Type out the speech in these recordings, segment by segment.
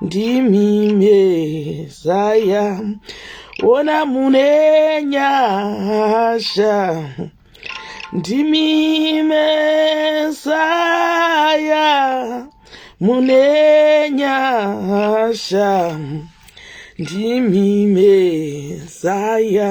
ndimi mezaya ona mune nyasha ndimi mezaya mune nyasha ndimi mezaya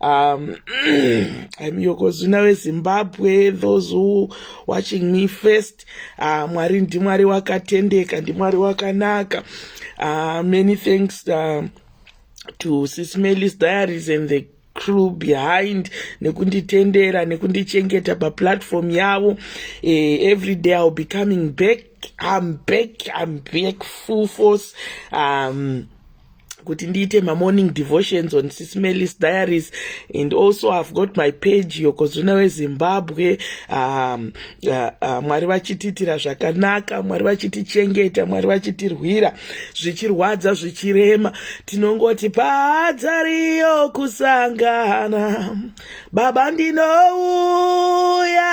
um i'm yokozuna wezimbabwe those who watching me first uh, mwari ndimwari wakatendeka ndimwari wakanaka uh, many thanks uh, to sismelis diaries and the crew behind nekunditendera nekundichengeta paplatform yavo eh, every day iwill be coming back i'm back i'm back full force um, kuti ndiite mamorning devotions on sismelis diaries and also ihave got my page yokozvina wezimbabwe um, uh, uh, mwari vachitiitira zvakanaka mwari vachitichengeta mwari vachitirwira zvichirwadza zvichirema tinongoti paadzariyo kusangana baba ndinouya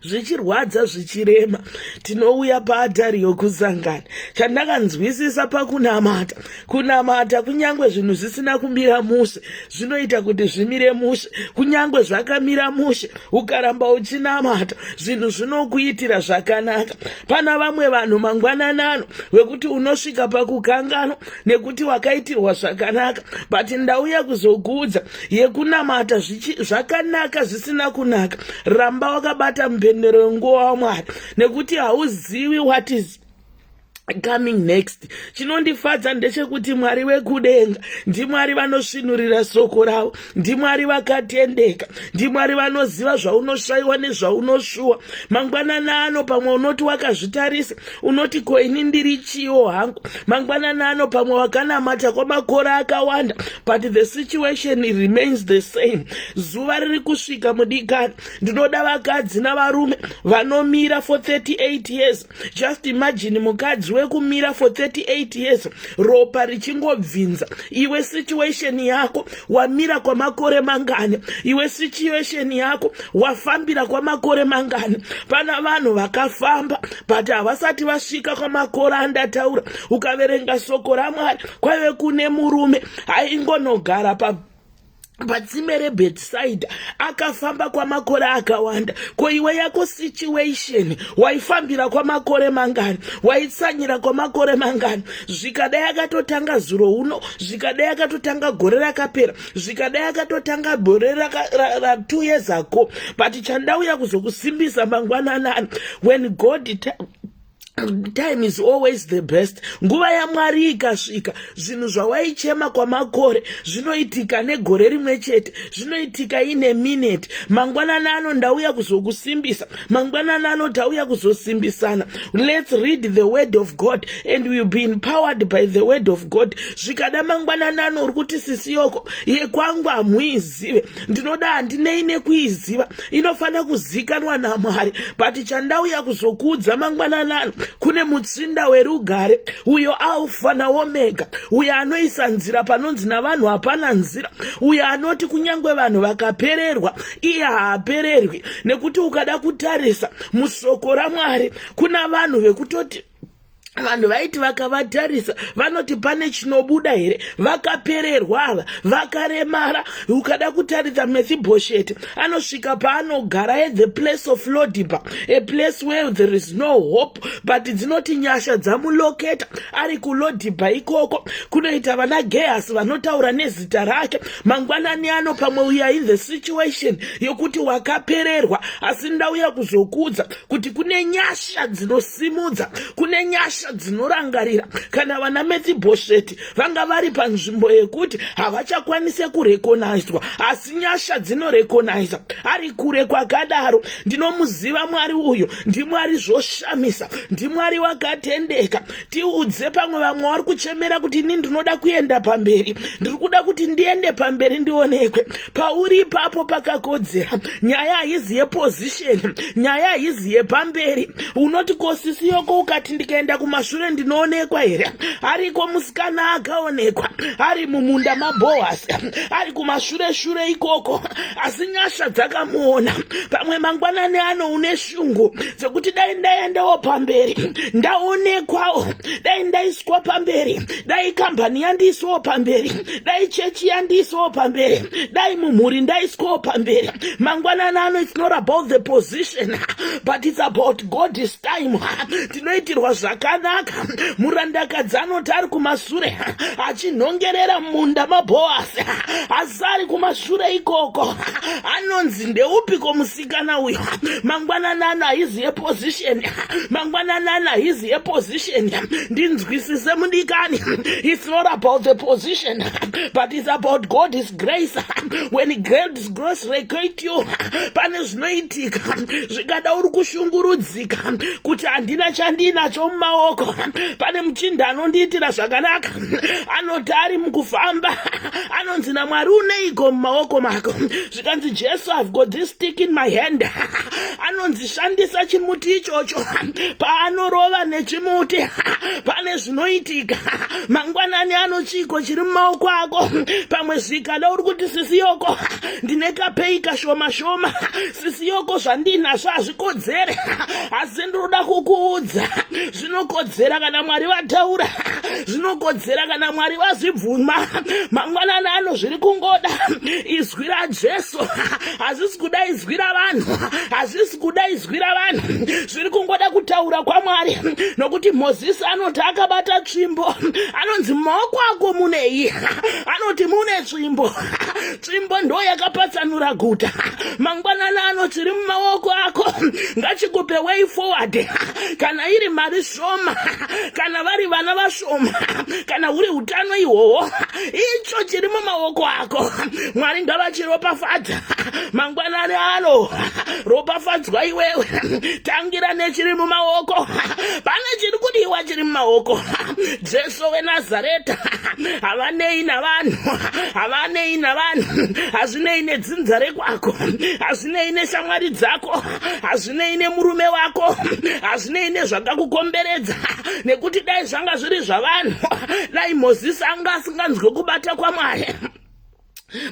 zvichirwadza zvichirema tinouya paatari yokusangana chandakanzwisisa pakunamata kunamata kunyange zvinhu zvisina kumira mushe zvinoita kuti zvimire mushe kunyange zvakamira mushe ukaramba uchinamata zvinhu zvinokuitira zvakanaka pana vamwe vanhu mangwananano wekuti unosvika pakukanganwa nekuti wakaitirwa zvakanaka but ndauya kuzokuudza yekunamata zvakanaka zvisina kunaka ramba wakabata mupendero yenguva wamwari nekuti hauzivi what is coming next chinondifadza ndechekuti mwari vekudenga ndimwari vanosvinurira soko ravo ndimwari vakatendeka ndimwari vanoziva zvaunoshayiwa nezvaunoshuwa mangwanana ano pamwe unoti wakazvitarisa unoti ko ini ndiri chiwo hangu mangwanani ano pamwe wakanamata kwamakore akawanda but the situation remains the same zuva riri kusvika mudikani ndinoda vakadzi navarume vanomira for 38 years just imagine mukadzi wekumira for 38 years ropa richingobvinza iwe situation yako wamira kwamakore mangani iwe situation yako wafambira kwamakore mangani pana vanhu vakafamba but havasati vasvika kwamakore andataura ukaverenga soko ramwari kwaive kune murume aingonogara pa patsime rebhetisaidha akafamba kwamakore akawanda ko iwe yako situation waifambira kwamakore mangani waitsanyira kwamakore mangani zvikadai akatotanga zuro uno zvikadai akatotanga gore rakapera zvikadai akatotanga gore ratu years ago but chandauya kuzokusimbisa mangwananani when god time is always the best nguva yamwari ikasvika zvinhu zvawaichema kwamakore zvinoitika negore rimwe chete zvinoitika ine mineti mangwanani ano ndauya kuzokusimbisa mangwanani anoti auya kuzosimbisana lets read the word of god and will be empowered by the word of god zvikada mangwanani ano uri kuti sisi yoko yekwangu hamuizive ndinoda handinei nekuiziva inofanira kuzikanwa namwari but chandauya kuzokuudza mangwanani ano kune mutsinda werugare uyo alfa naomega uyo anoisa nzira panonzi navanhu hapana nzira uyo anoti kunyange vanhu vakapererwa iye haapererwi nekuti ukada kutarisa musoko ramwari kuna vanhu vekutoti vanhu vaiti vakavatarisa vanoti pane chinobuda here vakapererwa ava vakaremara ukada kutarisa mefibhosheti anosvika paanogara at the place of lodiba a place where there is no hope but dzinoti nyasha dzamuloketa ari kulodiba ikoko kunoita vana gehasi vanotaura nezita rake mangwanani ano pamwe uya in the situation yokuti wakapererwa asi ndauya kuzokuudza kuti kune nyasha dzinosimudza kune nyasha dzinorangarira kana vana methibhosheti vanga vari panzvimbo yekuti havachakwanise kurekonaizwa asi nyasha dzinorekonaiza ari kure kwakadaro ndinomuziva mwari uyo ndimwari zvoshamisa ndimwari wakatendeka tiudze pamwe vamwe vari kuchemera kuti ini ndinoda kuenda pamberi ndiri kuda kuti ndiende pamberi ndionekwe pauri ipapo pakakodzera nyaya haizi yepozisheni nyaya haizi yepamberi unoti kosisi yoko ukati ndikaenda kumashure ndinoonekwa here ariko musikana akaonekwa ari mumunda mabohasi ari kumashure shure ikoko asi nyasha dzakamuona pamwe mangwanani ano une shungu zvekuti dai ndaendawo pamberi ndaonekwawo dai ndaiswa pamberi dai kambani yandiiswawo pamberi dai chechi yandiiswawo pamberi dai mumhuri ndaiswawo pamberi mangwanana ano it's not about the position but it's about god is time tinoitirwa zvakanaka murandakadzi anoti ari kumasure achinhongerera munda maboasi asi ari kumashure ikoko anonzi ndeupiko musi kana uyo mangwananana his a position mangwananana his a position ndinzwisise mudikani it's not about the position but it's about god is grace when god is grace recate you pane zvinoitika zvikada uri kushungurudzika kuti handina chandiinacho mumaoko pane muchinda anondiitira zvakanaka anoti ari mukufamba anonzi namwari uneiko mumaoko mako zvikanzi jesu i've got this stick in my hand anonzi shandisa chimuti ichocho paanorova nechimuti pane zvinoitika mangwanani ano chiiko chiri mumaoko ako pamwe zvikada uri kuti sisi yoko ndine kapei kashoma shoma sisi yoko zvandiinazvo hazvikodzere asi ndinoda kukuudza zvinokodzera kana mwari vataura zvinokodzera kana mwari vazvibvuma mangwanani ano zviri kungoda izwi rajesu hazvisi kuda izwi ravanhu hazvisi kuda izwi ravanhu zviri kungoda kutaura kwamwari nokuti mozisi anoti akabata tsvimbo anonzi mumaoko ako munei anoti mune tsvimbo tsvimbo ndo yakapatsanura guta mangwanani ano chiri mumaoko ako ngachikupe way forward kana iri mari shoma kana vari vana vashoma kana huri utano ihwohwo icho chiri mumaoko ako mwari ngavachiropafadza mangwanani ano ropafadzwa iwewe tangira nechiri mumaoko pane chiri kudiwa chiri mumaoko jesu Jesu weNazareta havanei navanhu havanei navanhu hazvinei nedzinza rekwako hazvinei neshamwari dzako hazvinei nemurume wako hazvinei nezvakakukomberedza nekuti dai zvanga zviri zvavanhu dai mozisi anga asinganzwe kubata kwamwari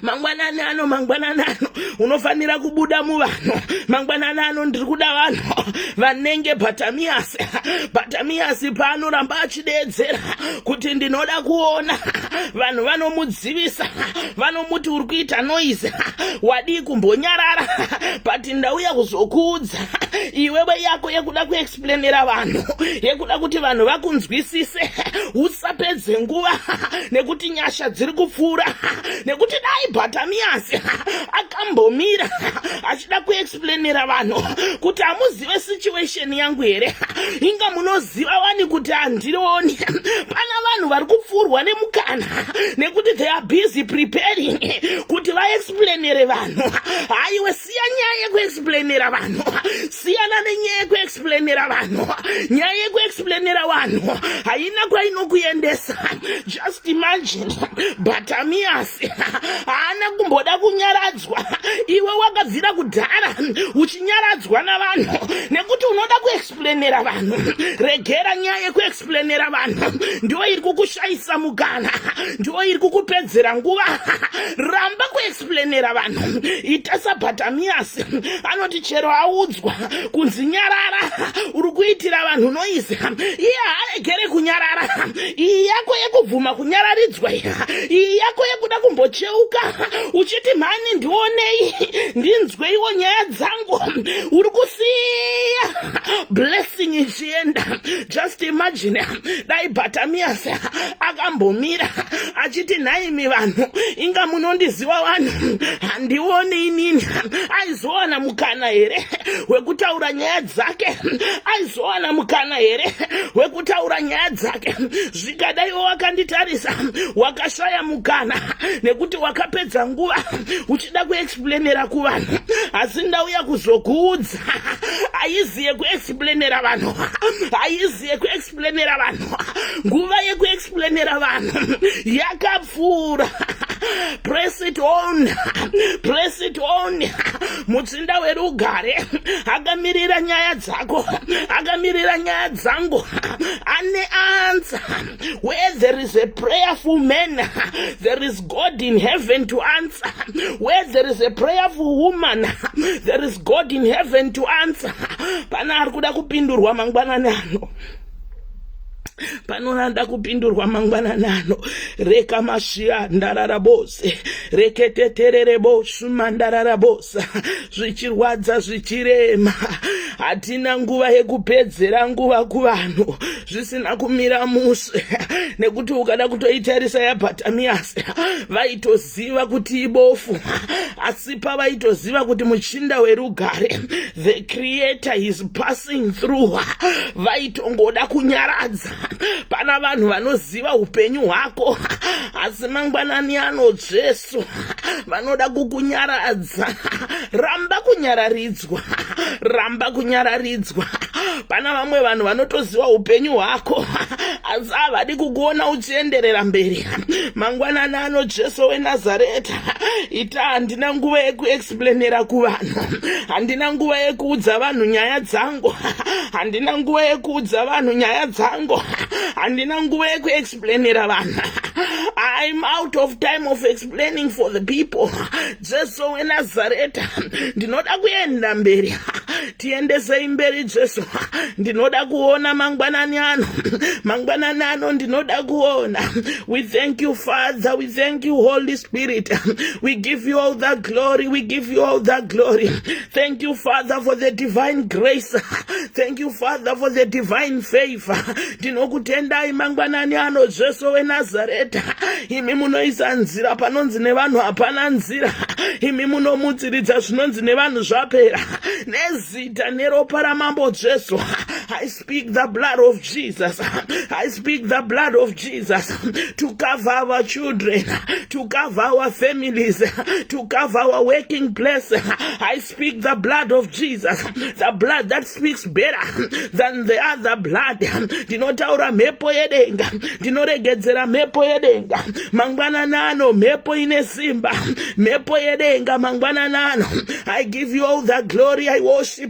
mangwanani ano mangwanani ano unofanira kubuda muvanhu mangwanani ano ndiri kuda vanhu vanenge batamiyasi batamiyasi paanoramba achideedzera kuti ndinoda kuona vanhu vanomudzivisa vanomuti uri kuita noise wadii kumbonyarara but ndauya kuzokuudza iwewe yako yekuda plemera vanhu yekuda kuti vanhu vakunzwisise usapedze nguva nekuti nyasha dziri kupfuura nekuti dai bhatamiyasi akambomira achida kuexplainira vanhu kuti hamuzive situation yangu here inga munoziva wani kuti handirioni pana vanhu vari kupfuurwa nemukana nekuti they are busy preparing kuti vaexplainire vanhu haiwe siya nyaya yekuexplainera vanhu siyana nenyaya yekuexplainera vanhu nyaya yekuexplainera vanhu haina kwainokuendesa just imagine batamiyasi haana kumboda kunyaradzwa iwe wakabvira kudhara uchinyaradzwa navanhu nekuti unoda kuexplainera vanhu regera nyaya yekuexplainera vanhu ndiwo iri kukushayisa mukana ndiwo iri kukupedzera nguva ramba kuex planera vanhu ita sabatamiyasi anoti chero audzwa kunzi nyarara uri kuitira vanhu noise iye haaregere kunyarara iyi yako yekubvuma kunyararidzwa iyi yako yekuda kumbocheuka uchiti mhani ndionei ndinzweiwo nyaya dzangu uri kusiya blessing tienda just imagine dai batamias akambomira achiti nhaimi vanhu inga munondiziva vanhu handione inini aizowana mukana here wekutaura nyaya dzake aizowana mukana here wekutaura nyaya dzake zvikadaiwo wakanditarisa wakashaya mukana nekuti wakapedza nguva uchida kuexplanera kuvanhu asi ndauya kuzokuudza haizi yekuexplainera vanhu haizi yekuexplainera vanhu nguva yekuexplainera vanhu yakapfuura press it on press it on mutsinda werugare akamirira nyaya dzako akamirira nyaya dzangu ane ansa Where there is a prayerful man, there is God in heaven to answer. Where there is a prayerful woman, there is God in heaven to answer. Pana ari kuda kupindurwa mangwanani ano panonanda kupindurwa mangwanani ano reka masviya ndarara bose reketeterere bosuma ndarara bosa zvichirwadza zvichirema hatina nguva yekupedzera nguva kuvanhu zvisina kumira mushe nekuti ukada kutoitarisa yabatamias vaitoziva kuti ibofu asi pavaitoziva kuti muchinda werugare the creator is passing through vaitongoda kunyaradza pana vanhu vanoziva upenyu hwako asi mangwanani anotsves Jesu vanoda kukunyaradza ramba kunyararidzwa ramba kunyararidzwa pana vamwe vanhu vanotoziva upenyu hwako asi havadi kukuona uchienderera mberi mangwanani ano jesu wenazareta ita handina nguva yekuexplanera kuvanhu handina nguva yekuudza vanhu nyaya dzangu handina nguva yekuudza vanhu nyaya dzangu handina nguva yekuex explainira vanhu I'm out of time of explaining for the people Jesu weNazareta ndinoda kuenda mberi tiendesei mberi Jesu ndinoda kuona mangwanani ano mangwanani ano ndinoda kuona we thank you Father we thank you Holy Spirit we give you all the glory we give you all the glory Thank you, Father, for the divine grace. Thank you, Father, for the divine favor. Ndinokutendai mangwanani ano Jesu weNazareta. Imi munoisa nzira panonzi nevanhu hapana nzira. Imi munomutsiridza zvinonzi nevanhu zvapera. Nezita neropa ramambo Jesu. speak the blood of Jesus. I speak the blood of Jesus to cover our children, to cover our families, to cover our working place. I speak the blood of Jesus, the blood that speaks better than the other blood. Ndinotaura mhepo yedenga, ndinoregedzera mhepo yedenga. Mangwana nano mhepo ine simba, mhepo yedenga mangwana nano. I give you all the glory. I worship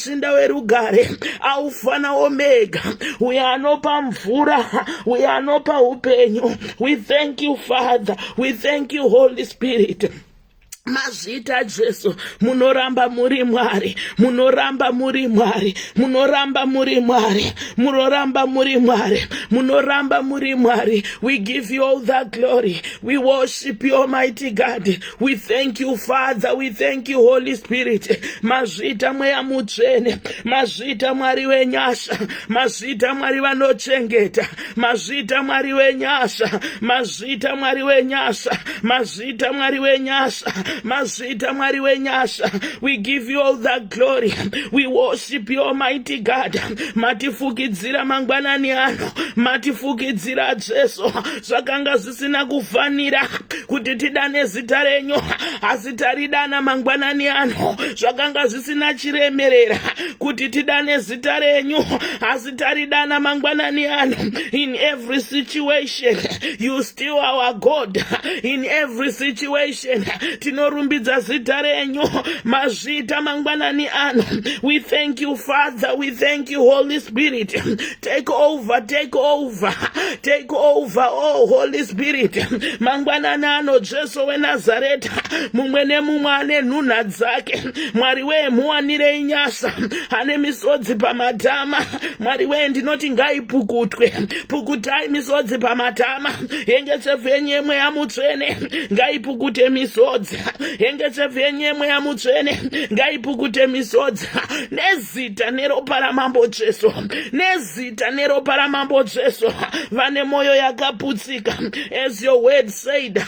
musinda werugare aufa naomega uye anopa mvura uye anopa upenyu we thank you father we thank you holy spirit mazvita jesu munoramba muri mwari munoramba muri mwari munoramba muri mwari munoramba muri mwari munoramba muri mwari we give you all the glory we worship you almighty god We thank you, Father. We thank you, Holy Spirit. Mazvita mweya mutsvene, mazvita mwari wenyasha, mazvita mwari vanochengeta, mazvita mwari wenyasha, mazvita mwari wenyasha, mazvita mwari wenyasha, mazvita mwari wenyasha. We give you all the glory. We worship you, Almighty God. Matifukidzira mangwanani ano, matifukidzira Jesu. Zvakanga zvisina kufanira kuti tidane zita renyu asi taridana mangwanani ano zvakanga zvisina chiremerera kuti tidane zita renyu asi taridana mangwanani ano in every situation you still our god in every situation tinorumbidza zita renyu mazvita mangwanani ano we thank you father we thank you holy spirit Take over, take over, take over, oh Holy Spirit. Mangwanani ano Jesu weNazareta, mumwe nemumwe ane nhunha dzake. Mwari wee muwanirei nyasha, ane misodzi pamatama. Mwari wee ndinoti ngaipukutwe, pukutai misodzi pamatama. Hengetsefu yenyu yemweya mutsvene, ngaipukute misodzi. Hengetsefu yenyu yemweya mutsvene, ngaipukute misodzi. zita neropa ramambo jesu nezita neropa ramambo jesu vane mwoyo yakaputsika as your word said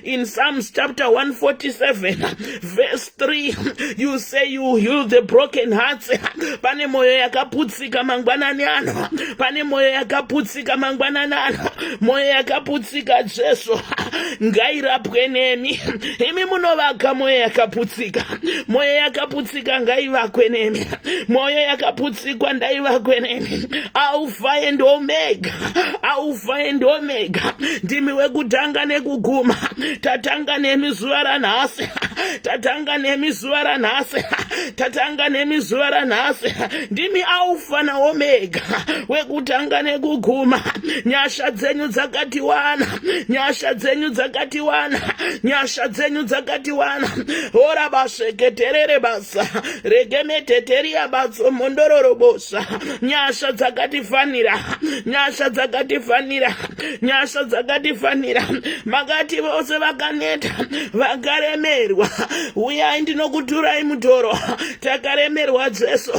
in psalms chapter 147 verse 3 you say you heal the broken hearts pane mwoyo yakaputsika mangwanani ano pane mwoyo yakaputsika mangwanani ano mwoyo yakaputsika jesu ngairapwe nemi imi munovaka mwoyo yakaputsika mwoyo yakaputsika ngaivakwe nemi mwoyo yakaputsikwa ndaivakwe nemi alfa and omega alfa and omega ndimi wekutanga nekuguma tatanga nemi zuva ranhasi tatanga nemi zuva ranhasi tatanga nemi zuva ranhasi ndimi alfa naomega wekutanga nekuguma nyasha dzenyu dzakatiwana nyasha dzenyu dzakatiwana nyasha dzenyu dzakatiwana hora basveketerere basa regemeteteria batso mondororobosa nyasha dzakatifanira nyasha dzakatifanira nyasha dzakatifanira makati vose vakaneta vakaremerwa uyai ndinokuturai mutoro takaremerwa jesu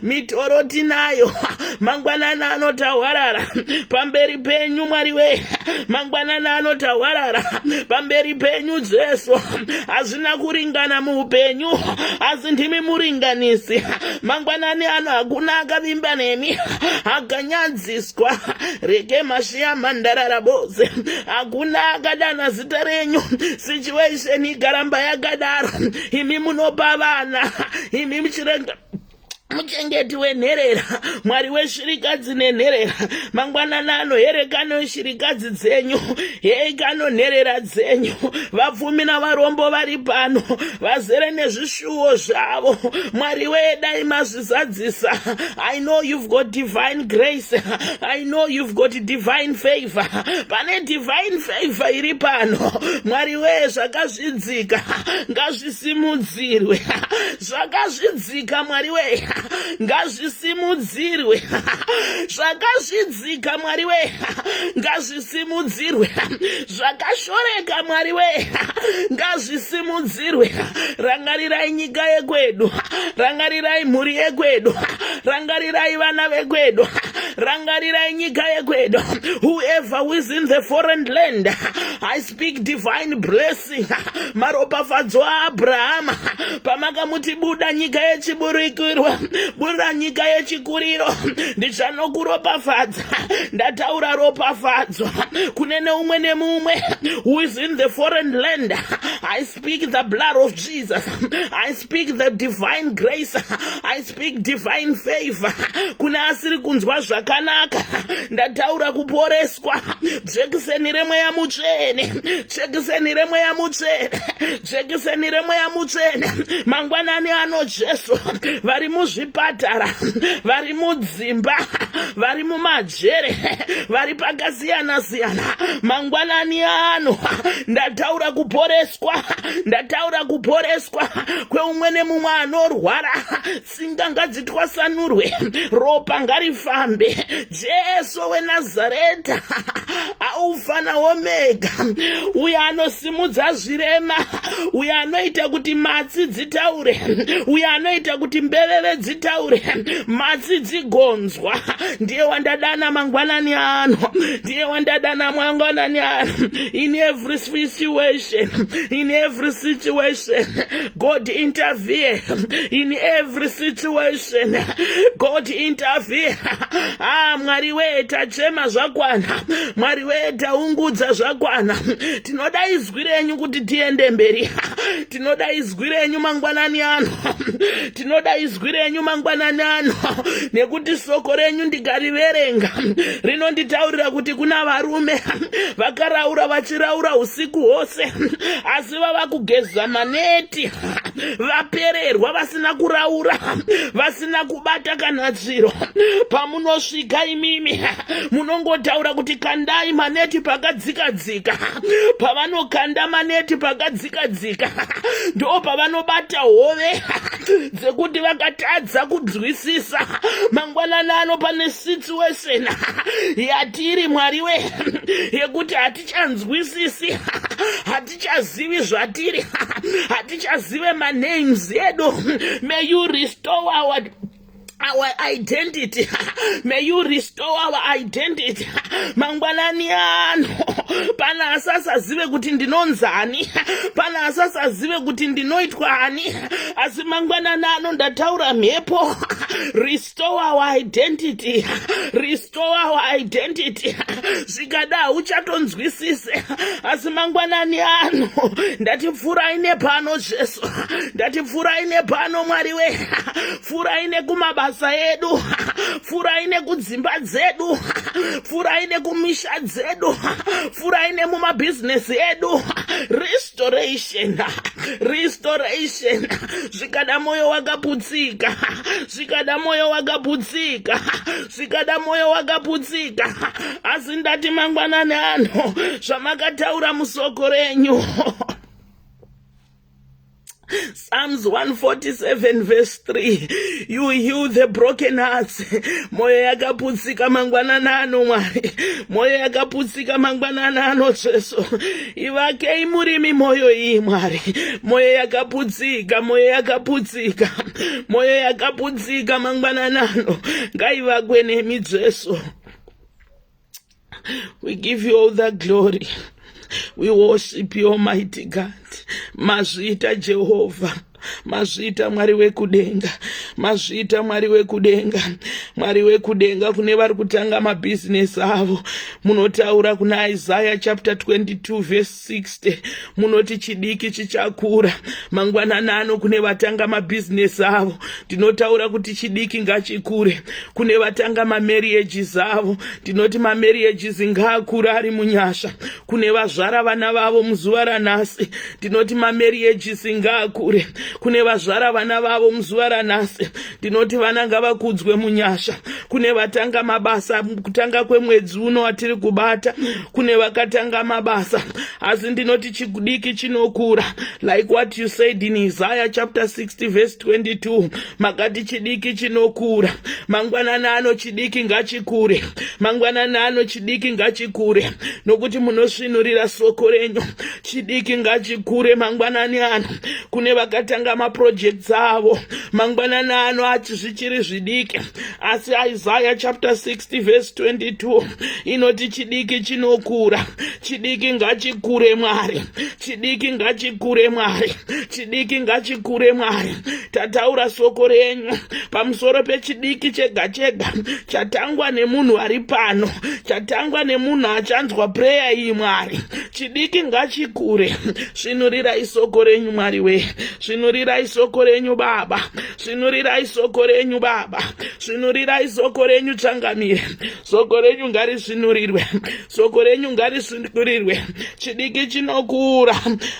mitoro tinayo mangwanana anotahwarara pamberi penyu mwari wee mangwanana anotahwarara pamberi penyu jesu hazvina kuringana muupenyu asi ndimi muringanisi mangwanani ano hakuna akavimba nemi akanyadziswa rege mashiya mandarara boze hakuna akadana zita renyu situation ikaramba yakadaro imi munopa vana imi muchirenga muchengeti wenherera mwari weshirikadzi nenherera mangwanana anoherekano shirikadzi dzenyu heikano nherera dzenyu vapfumi navarombo vari pano vazere nezvishuwo zvavo mwari weye dai mazvizadzisa i know you've got divine grace i know you've got divine favor pane divine favor iri pano mwari weye zvakazvidza zvakazvidzika ngazvisimudzirwe zvakazvidzika mwari wee ngazvisimudzirwe zvakazvidzika mwari wee ngazvisimudzirwe zvakashoreka mwari wee ngazvisimudzirwe rangarirai nyika yekwedu rangarirai mhuri yekwedu rangarirai vana vekwedu rangarirai nyika yekwedu whoever who is in the foreign land I speak divine blessing maropafadzo aabrahama pamakamuti buda nyika yechiburikirwa buda nyika yechikuriro ndichanokuropafadza ndataura ropafadzo kune neumwe nemumwe who is in the foreign land speak the blood of Jesus. I speak the divine grace. I speak divine favor. Kune asiri kunzwa zvakanaka. Ndataura kuporeswa. Jekiseni remweya mutsvene. Jekiseni remweya mutsvene. Jekiseni remweya mutsvene. Mangwanani ano Jesu. Vari muzvipatara. Vari mudzimba. Vari mumaji. jere vari pakasiyana siyana mangwanani ano ndataura kuporeswa ndataura kuporeswa kweumwe nemumwe anorwara tsinga ngadzitwasanurwe ropa ngarifambe jesu wenazareta aufana omega uyo anosimudza zvirema uyo anoita kuti matsi dzitaure uyo anoita kuti mbeveve dzitaure matsi dzigonzwa ndiye wandadana mangwanani ano ndiye wandadana mangwanani ano in every situation in every situation god intervene in every situation god intervene ah mwari wee tachema zvakwana mwari wee taungudza zvakwana tinodaidzwa izwi renyu kuti tiende mberi tinoda izwi renyu mangwanani ano tinoda izwi renyu mangwanani ano nekuti soko renyu ndikariverenga rinonditaurira kuti kuna varume vakaraura vachiraura usiku hwose asi vava kugeza maneti vapererwa vasina kuraura vasina kubata kana zviro pamunosvika imimi munongotaura kuti kandai maneti pakadzikadzika pavanokanda maneti pakadzikadzika ndo pavanobata hove dzekuti vakatadza kunzwisisa mangwanana ano pane situation yatiri mwari we yekuti hatichanzwisisi hatichazivi zvatiri hatichazive manames edu may you restore our our identity may you restore our identity mangwanani ano pana asasazive kuti ndinonzani pana asasazive kuti ndinoitwa ani asi mangwanani ano ndataura mhepo restore our identity Rest towawo identity zvikada hauchatonzwisise asi mangwanani ano ndati pfurai nepano jesu ndati pfurai nepano mwari we pfurai nekumabasa edu pfurai nekudzimba dzedu pfurai nekumisha dzedu pfurai nemumabhizinesi edu restoration restoration zvikada moyo wakaputsika zvikada moyo wakaputsika zvikada mwoyo wakaputsika asi ndati mangwanani ano zvamakataura musoko renyu Psalms 147 verse 3 you heal the broken hearts moyo yakaputsika mangwanana ano mwari moyo yakaputsika mangwanana ano jesu Ivakei murimi mwoyo iyi Mwari, mwoyo yakaputsika, mwoyo yakaputsika, mwoyo yakaputsika mangwananano ngaivakwe nemi Jesu. We give you all the glory. We worship you, Almighty God. Mazvita Jehovah. mazviita mwari wekudenga mazviita mwari wekudenga mwari wekudenga kune vari kutanga mabhizinesi avo munotaura kuna isaya chapter 22 verse 60 munoti chidiki chichakura mangwanani ano kune vatanga mabhizinesi avo ndinotaura kuti chidiki ngachikure kune vatanga mamarriages avo ndinoti mamarriages ngaakure ari munyasha kune vazvara vana vavo muzuva ranhasi tinoti mamerieji ngaakure kune vazvara vana vavo muzuva ranhasi tinoti vana ngavakudzwe munyasha kune vatanga mabasa kutanga kwemwedzi uno atiri kubata kune vakatanga mabasa asi ndinoti chikudiki chinokura like what you said in isaya chapter 60 verse 22 makati chidiki chinokura mangwanani ano chidiki ngachikure mangwanani ano chidiki ngachikure nokuti munosvinurira soko renyu chidiki ngachikure mangwanani ano kune vakatanga maprojects avo mangwanani ano ati zvichiri zvidiki asi isaya chapter 60 verse 22 inoti chidiki chinokura chidiki ngachikure mwari chidiki ngachikure mwari chidiki ngachikure mwari tataura soko renyu pamusoro pechidiki chega chega chatangwa nemunhu ari pano chatangwa nemunhu achanzwa pureya iyi mwari chidiki ngachikure svinurirai soko renyu mwari wee svinurirai soko renyu baba svinurirai soko renyu baba svinurirai soko renyu changamire soko renyu ngarisvinurirwe soko renyu ngarisundurirwe chidiki chinokura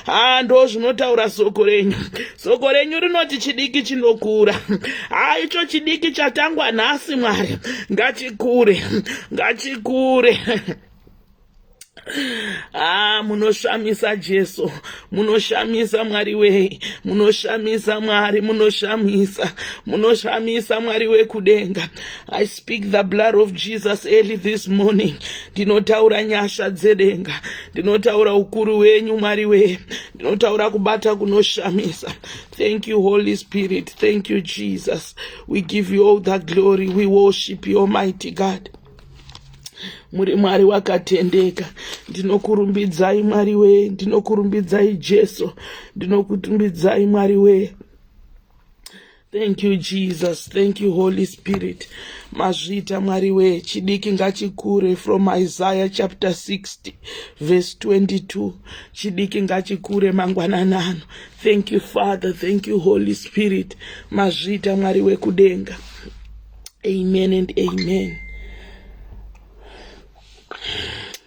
haa ndo zvinotaura soko renyu soko renyu rinoti chidiki chinokura haa icho chidiki chatangwa nhasi mwari ngachikure ngachikure haa ah, munoshamisa jesu munoshamisa mwari wei munoshamisa mwari munoshamisa munoshamisa mwari wekudenga i speak the blood of jesus early this morning ndinotaura nyasha dzedenga ndinotaura ukuru wenyu mwari wee ndinotaura kubata kunoshamisa thank you holy spirit thank you jesus we give you all the glory we worship you almighty god muri mwari wakatendeka ndinokurumbidzai mwari wee ndinokurumbidzai jesu ndinokurumbidzai mwari wee Thank you Jesus, thank you Holy Spirit. Mazvita Mwari we chidiki ngachikure from Isaiah chapter 60 verse 22. Chidiki ngachikure mangwananano. Thank you Father, thank you Holy Spirit. Mazvita Mwari we kudenga. Amen and amen.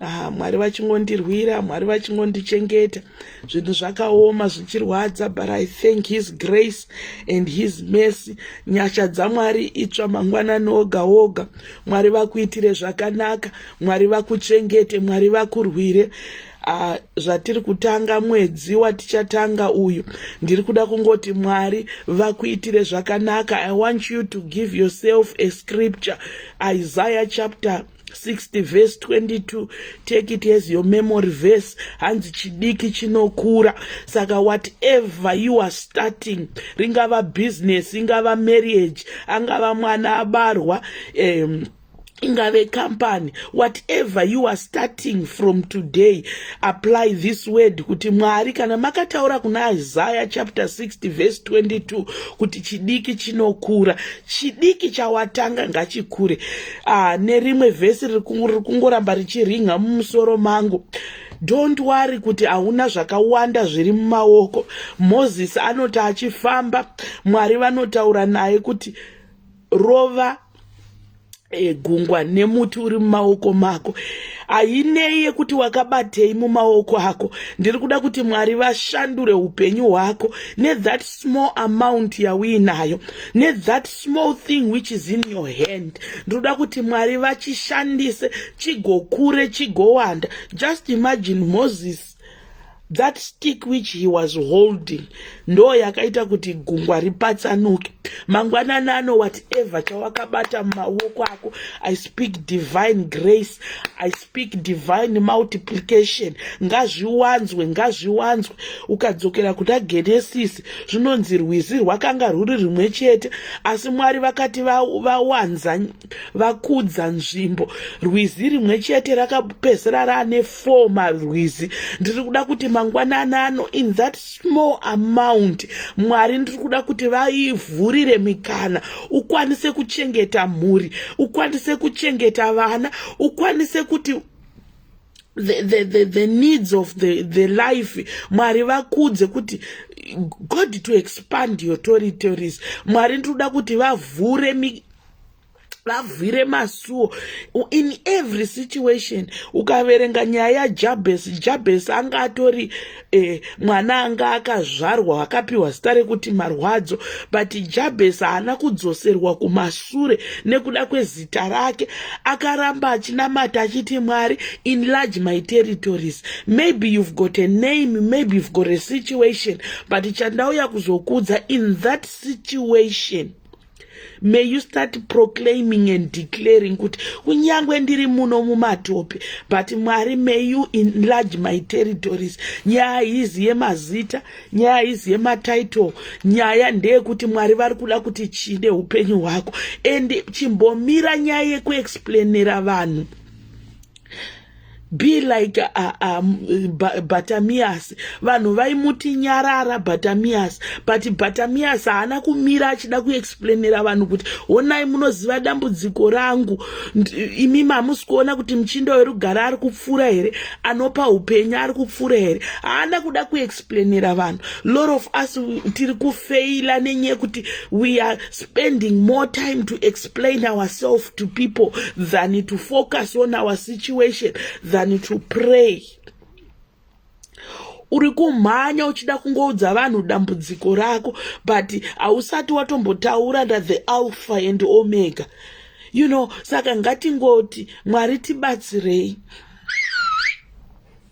ah, mwari vachingondirwira mwari vachingondichengeta zvinhu zvakaoma zvichirwadza but i thank his grace and his mercy nyasha dzamwari itsva mangwanani oga oga mwari vakuitire zvakanaka mwari vakuchengete mwari vakurwire uh, zvatiri kutanga mwedzi watichatanga uyu ndiri kuda kungoti mwari vakuitire zvakanaka i want you to give yourself a scripture isaiah chapter 60 verse 22 take it as your memory verse hanzi chidiki chinokura saka whatever you are starting ringava business ingava marriage angava mwana abarwa um, ingave company whatever you are starting from today apply this word kuti mwari kana makataura kuna isaya chapter 60 verse 22 kuti chidiki chinokura chidiki chawatanga ngachikure ah, nerimwe vhesi riri kungoramba richirinha mumusoro mangu don't worry kuti hauna zvakawanda zviri mumaoko mozisi anoti achifamba mwari vanotaura naye kuti rova egungwa nemuti uri mumaoko mako hainei yekuti wakabatei mumaoko ako ndiri kuda kuti mwari vashandure upenyu hwako nethat small amount yauinayo nethat small thing which is in your hand ndinoda kuti mwari vachishandise chigokure chigowanda just imagine moses that stick which he was holding ndo yakaita kuti gungwa ripatsanuke mangwanani ano whatever chawakabata mumaoko ako i speak divine grace I speak speak divine multiplication ngazviwanzwe ngazviwanzwe ukadzokera kuna genesis zvinonzi rwizi rwakanga rwuri rimwe chete asi mwari vakati vawanza va vakudza nzvimbo rwizi rimwe chete rakapedzisira raane four marwizi ndiri kuda kuti mangwanani ano in that small amount mwari ndiri kuda kuti vaivhurire mikana ukwanise kuchengeta mhuri ukwanise kuchengeta vana ukwanise kuti the, the, the, the needs of the, the life mwari vakudze kuti god to expand your territories mwari ndiri kuda kuti vavhure vavhire masuo in every situation ukaverenga nyaya yajabhesi jabhesi anga atori eh, mwana anga akazvarwa akapiwa zita rekuti marwadzo but jabhesi haana kudzoserwa kumasure nekuda kwezita rake akaramba achinamata achiti mwari inlarge my territories maybe you've got a name maybe you've got a situation but chandauya kuzokuudza in that situation may you start proclaiming and declaring kuti kunyange ndiri muno mumatope but mwari may you enlarge my territories nyaya haizi yemazita nyaya haizi yematitle nyaya ndeyekuti mwari vari kuda kuti chii neupenyu hwako and chimbomira nyaya yekuexplainera vanhu be like uh, um, batamias vanhu vaimuti nyarara batamias but batamias haana kumira achida kuexplainera vanhu kuti honai munoziva dambudziko rangu imi mamusi kuona kuti muchinda werugara ari kupfuura here anopa upenyu ari kupfuura here haana kuda kuexplainera vanhu lot of us tiri kufeila nenyaya yekuti we are spending more time to explain ourselves to people than to focus on our situation than to pray uri kumhanya uchida kungoudza vanhu dambudziko rako but hausati watombotaura nda the alpha and omega you know saka ngatingoti mwari tibatsirei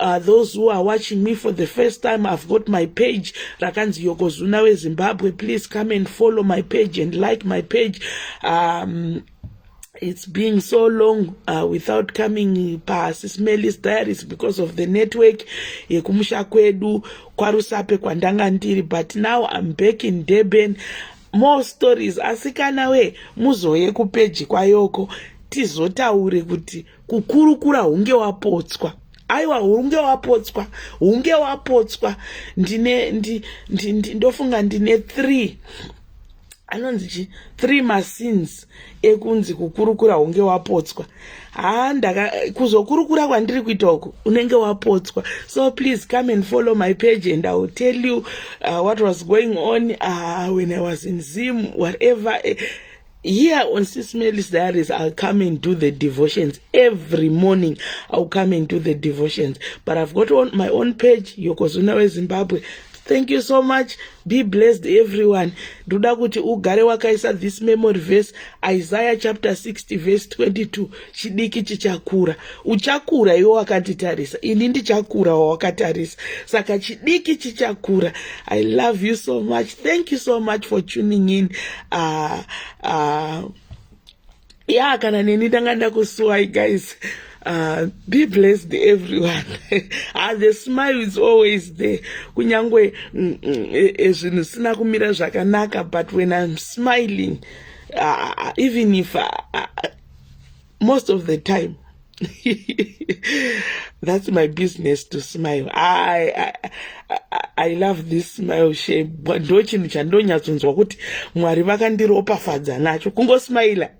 Uh, those who are watching me for the first time i've got my page rakanzi yokozuna wezimbabwe please come and follow my page and like my page um, it's been so long uh, without coming pasi smellis diaries because of the network yekumusha kwedu kwarusape kwandanga ndiri but now i'm back in durban more stories asikana we muzouye kupeji kwayoko tizotaure kuti kukurukura hunge wapotswa aiwa hunge wapotswa hunge wapotswa ndine ndi, ndi, ndi, ndofunga ndine three anonzi chi three masins ekunzi kukurukura hunge wapotswa haa ndaka kuzokurukura kwandiri kuita uku unenge wapotswa so please come and follow my page and iwill tell you uh, what was going on uh, when i was in zim whatever uh, here on sis melis diaries i'll come and do the devotions every morning i'll come and do the devotions but i've got on my own page yokozuna wezimbabwe thank you so much be blessed everyone ndoda kuti ugare wakaisa this memory verse isaiah chapter 60 verse 22 chidiki chichakura uchakura iwe wakanditarisa ini ndichakura wawakatarisa saka chidiki chichakura i love you so much thank you so much for tuning in uh, uh, ya kana neni ndanga ndakusuwai guys Uh, be blessed everyone uh, the smile is always there kunyange mm, mm, e, e, zvinhu zvisina kumira zvakanaka but when i'm smiling uh, even if I, I, most of the time that's my business to smile i, I, I, I love this smile shape ndo chinhu chandonyatsonzwa kuti mwari vakandiropafadza nacho kungosmaila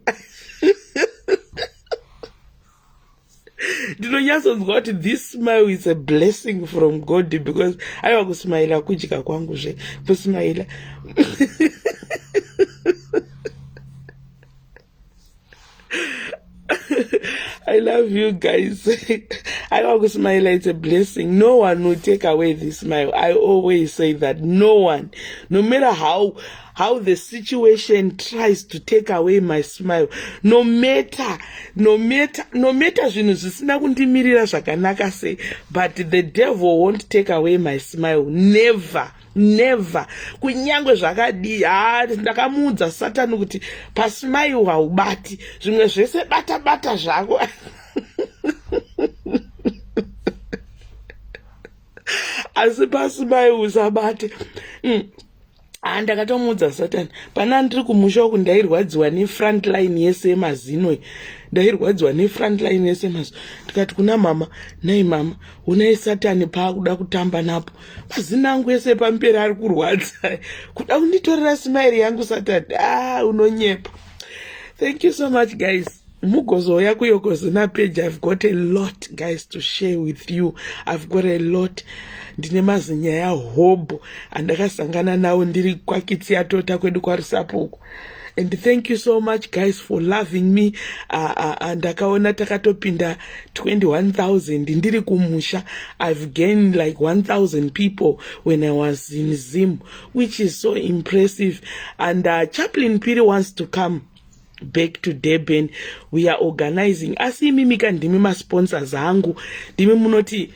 ndinonyatsonzwa kuti this smile is a blessing from god because aiwa kusmaila kudya kwangu zve kusmaila I love you guys. I always smile, it's a blessing. No one will take away this smile. I always say that. No one. No matter how how the situation tries to take away my smile no matter no matter no matter zvinhu zvisina kundimirira zvakanaka sei but the devil won't take away my smile never never kunyange zvakadii haa ndakamuudza satani kuti pasmile haubati zvimwe zvese bata bata zvako asi pasmile usabate mm. haa ndakatomuudza satani pana ndiri kumusha uku ndairwadziwa nefrontline yese yemazino iyi ndairwadziwa nefrontline yese yemazino ndikati kuna mama nai mama unai satani paakuda kutamba napo mazino angu ese pamberi ari kurwadza kuda kunditorera simairi yangu satani aa ah, unonyepa thank you so much guys mugozouya kuyogozona page i've got a lot guys to share with you i've got a lot ndine mazinyaya hobho andakasangana nawo ndiri kwakitsi yatota kwedu kwarusapo uku and thank you so much guys for loving me ndakaona uh, uh, uh, takatopinda 21000 ndiri kumusha i've gained like 1000 people when i was in zim which is so impressive and uh, chaplin piri wants to come back to durban we are organizing asi imimi ka ndimi masponsors angu ndimi munoti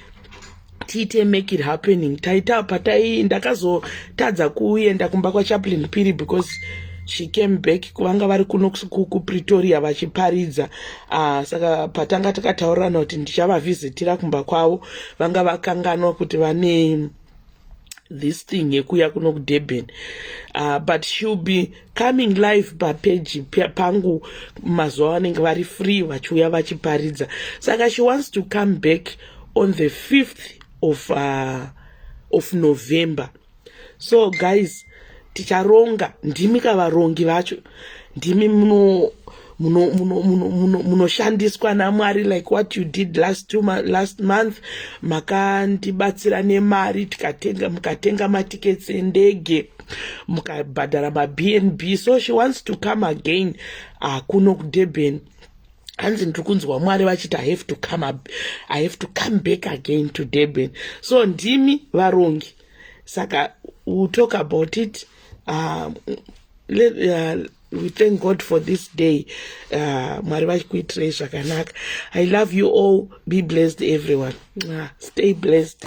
tiite make it happening taita patai ndakazotadza kuenda kumba kwachaplin piri because she came back kuvanga vari kuno kupretoria vachiparidza uh, saka patanga takataurirana kuti ndichavavhizitira kumba kwavo vanga vakanganwa kuti vane this thing yekuya kuno kudurban uh, but she'll be coming live papeji pangu mazuva vanenge vari free vachiuya vachiparidza saka she wants to come back on the 5th of, uh, of november so guys ticharonga ndimi kavarongi vacho ndimi munoshandiswa muno, muno, muno, muno namwari like what you did last, two, last month makandibatsira nemari tikatenga mukatenga matikets endege mukabhadhara mabnb so she wants to come again uh, kuno kudurban hanzi ndiri kunzwa mwari vachiti i have to come up, i have to come back again to durban so ndimi varongi saka we'll talk about it um, let, uh, we thank god for this day uh, mwari vachikuitirei zvakanaka i love you all be blessed everyone uh, stay blessed